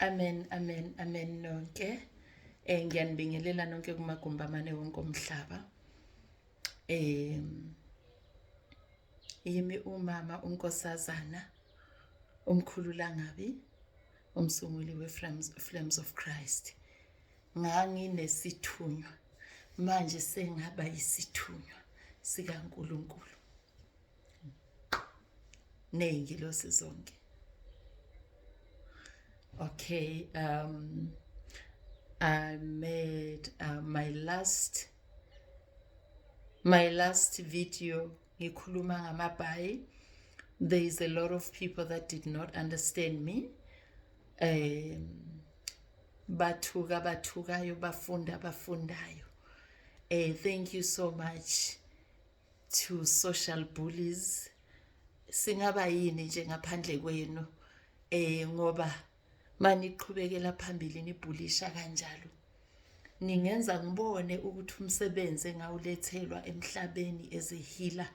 Amen amen amen nonke eh ngiyanibingelela nonke kumagumba amane wonke omhlaba eh yimi umama unkosazana umkhulu langabi umsunguli weFlames Flames of Christ nganginesithunywa manje sengaba yisithunywa sikaNkuluNkulu neyingelosi zonke okay um i made uh, my last my last video ngikhuluma ngamabhayi there is a lot of people that did not understand me um bathuka abathukayo bafunda abafundayo eh thank you so much to social bullies singaba yini nje ngaphandle kwenu eh ngoba maniqhubekela phambili nibhulisha kanjalo ningenza ngibone ukuthi umsebenzi engawulethelwa emhlabeni ezehila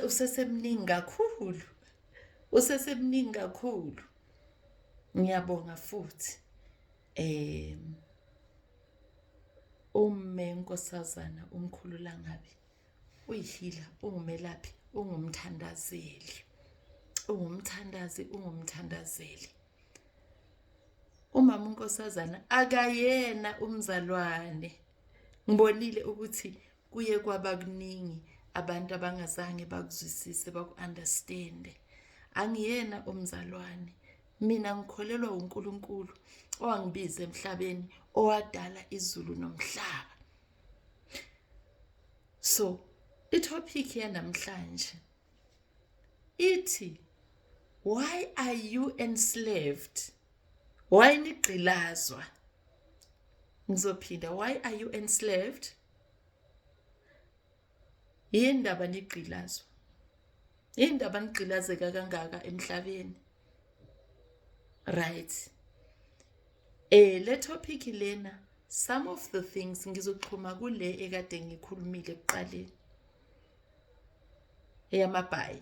usesemningi kakhulu usesemningi kakhulu ngiyabonga futhi eh ume nkosazana umkhulu langabi uyihila ungumelaphi ungumthandazeli ungumthandazi ungumthandazeli umama unkosazana akayena umzalwane ngibonile ukuthi kuye kwaba kuningi abantu abangazange bakuzwisise baku-understande angiyena umzalwane mina ngikholelwa uNkulunkulu owangibiza emhlabeni owadala izulu nomhlaba so itopic yanamhlanje ithi why are you enslaved why nigqilazwa ngizophinda why are you enslaved yini ndaba nigqilazwa yini ndaba nigqilazeka kangaka emhlabeni right eh le topic lena some of the things ngizoxhuma kule ekade ngikhulumile kuqaleni eyamabhayi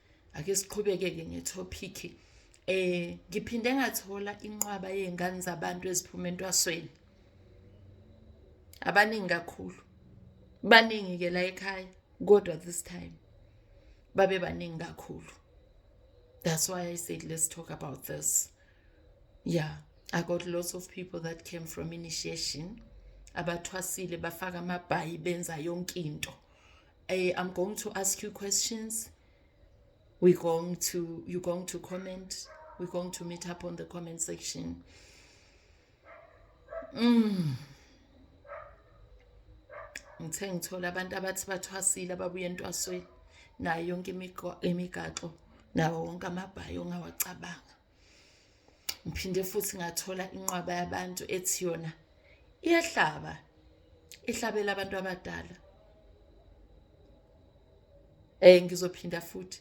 ake siqhubeke-ke ngethopikhi um eh, ngiphinde ngathola inqwaba yey'ngane zabantu eziphuma entwasweni abaningi kakhulu baningi-ke la ekhaya kodwa this time babe baningi kakhulu that's why i said let's talk about this yeah i got lots of people that came from initiation abathwasile bafaka amabhayi benza yonke into I am going to ask you questions. We're going to, you're going to comment. We're going to meet up on the comment section. Mm. ngithe ngithola abantu abathi bathwasile ababuye entwasweni nayo yonke imigaxo nawo wonke amabhayi ongawacabanga ngiphinde futhi ngathola inqwaba yabantu ethi yona iyahlaba ihlabela abantu abadala eh ngizophinda futhi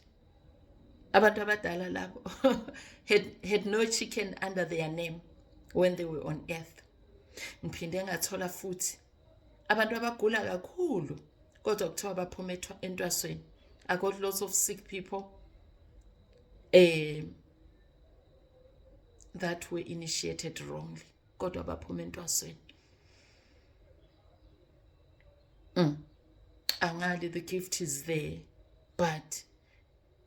abantu abadala labo had, had no chicken under their name when they were on earth ngiphinde ngathola futhi abantu abagula kakhulu kodwa kuthiwa baphuma entwasweni i got lots of sick people um that were initiated wrongly kodwa baphuma entwasweni mm. angali the gift is there but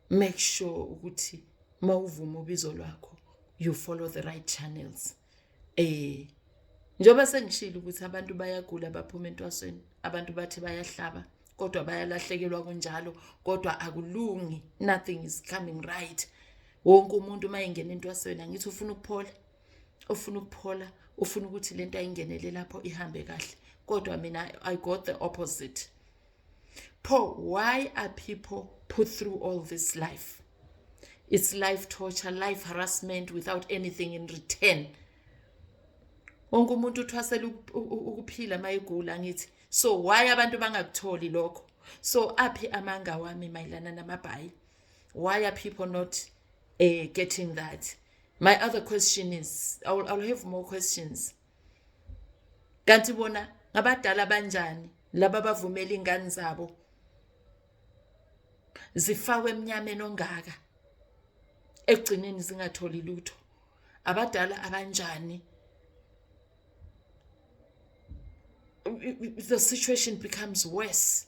make sure ukuthi mawuvuma ubizo lwakho you follow the right channels Eh njengoba sengishilo ukuthi abantu bayagula baphuma entwasweni, abantu bathi bayahlaba kodwa bayalahlekelwa kunjalo kodwa akulungi nothing is coming right. Wonke umuntu uma engena entwasweni angithi ufuna ukuphola, ufuna ukuphola, ufuna ukuthi lento ayingenele lapho ihambe kahle kodwa mina I got the opposite. pho why are people put through all this life it's life torture life harassment without anything in return wonke umuntu uthwasela ukuphila mayigula ngithi so why abantu bangakutholi lokho so aphi amanga wami mayilana namabhayi why are people not uh, getting that my other question is I will, I will have more questions kanti bona ngabadala banjani laba bavumela ingane zabo zifakwe emnyameni ongaka ekugcineni zingatholi lutho abadala abanjani the situation becomes worse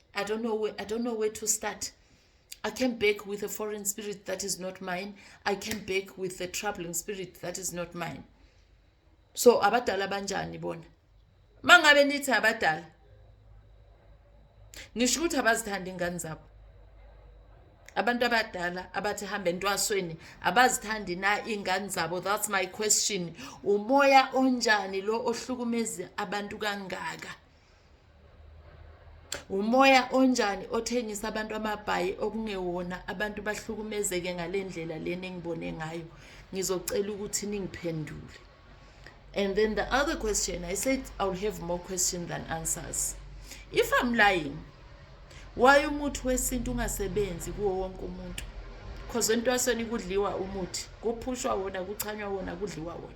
I don't know where, I don't know where to start. I can beg with a foreign spirit that is not mine. I can beg with a troubling spirit that is not mine. So abadala banjani bona? Mangabe nithi abadala. Nisho ukuthi abazithanda ingane zabo. Abantu abadala abathi hambe entwasweni abazithandi na ingane zabo. That's my question. Umoya onjani lo ohlukumeza abantu kangaka? umoya onjani othengisa abantu amabhayi okungewona abantu bahlukumezeke ngale ndlela lena engibone ngayo ngizocela ukuthi ningiphendule and then the other question i said i'll have more question than answers if i'm lying why umuthi wesintu ungasebenzi kuwo wonke umuntu because entwasweni kudliwa umuthi kuphushwa wona kuchanywa wona kudliwa wona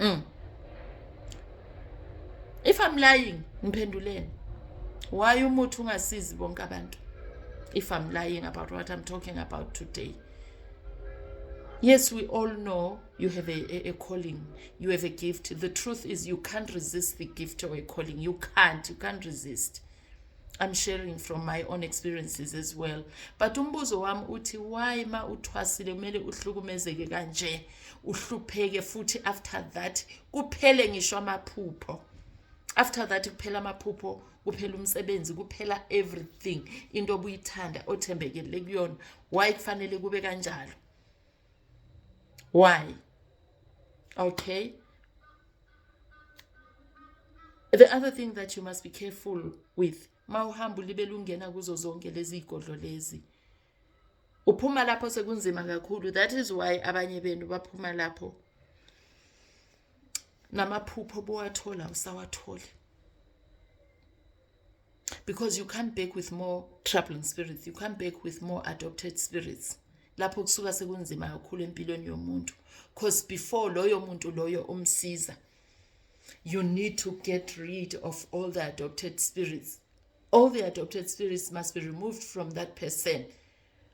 mm. if i'm lying ngiphenduleni why umuthi ungasizi bonke abantu if i'm lying about what i'm talking about today yes we all know you have a, a, a calling you have a gift the truth is you can't resist the gift or a calling you can't you can't resist I'm sharing from my own experiences as well but umbuzo wami uthi why ma uthwasile kumele uhlukumezeke kanje uhlupheke futhi after that kuphele ngisho amaphupho after that kuphela amaphupho kuphela umsebenzi kuphela everything into obuyithanda othembekele kuyona why kufanele kube kanjalo Why? Okay. The other thing that you must be careful with mawuhamba ulibele ungena kuzo zonke lezi igodlo lezi uphuma lapho sekunzima kakhulu that is why abanye benu baphuma lapho namaphupho bowathola usawathole because you come back with more troubling spirits you come back with more adopted spirits lapho kusuka sekunzima kakhulu empilweni yomuntu because before loyo muntu loyo umsiza you need to get rid of all the adopted spirits all the adopted spirits must be removed from that person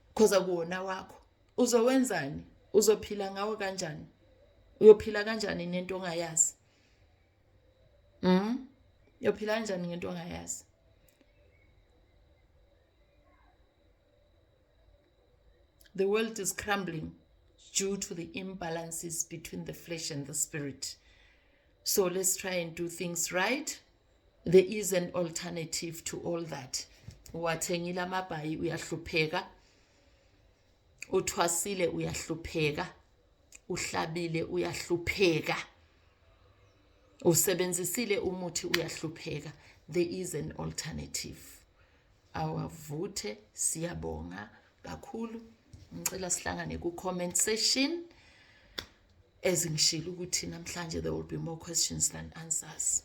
because akuwona wakho uzowenzani uzophila ngawo kanjani uyophila kanjani nento ongayazi Mhm. Uyophila kanjani ngento ongayazi? The world is crumbling due to the imbalances between the flesh and the spirit. So let's try and do things right. There is an alternative to all that. Uwathengile amabhayi uyahlupheka. Uthwasile uyahlupheka. Uhlabile uyahlupheka. usebenzisile umuthi uyahlupheka there is an alternative awavuthe siyabonga kakhulu ngicela sihlangane ku comment session ezingishilo ukuthi namhlanje there will be more questions than answers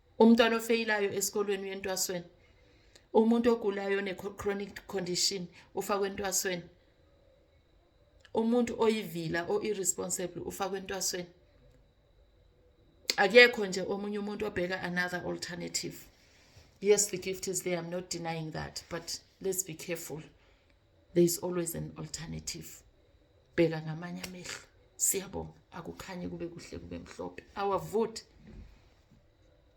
umntwana ofeyilayo esikolweni uyentwasweni umuntu ogulayo ne-chronic condition ufakwe entwasweni umuntu oyivila o-irresponsible ufakwe entwasweni akekho nje omunye umuntu obheka another alternative yes the gift is there i'm not denying that but let's be careful there is always an alternative bheka ngamanye amehlo siyabonga akukhanye kube kuhle kube mhlophe awavoti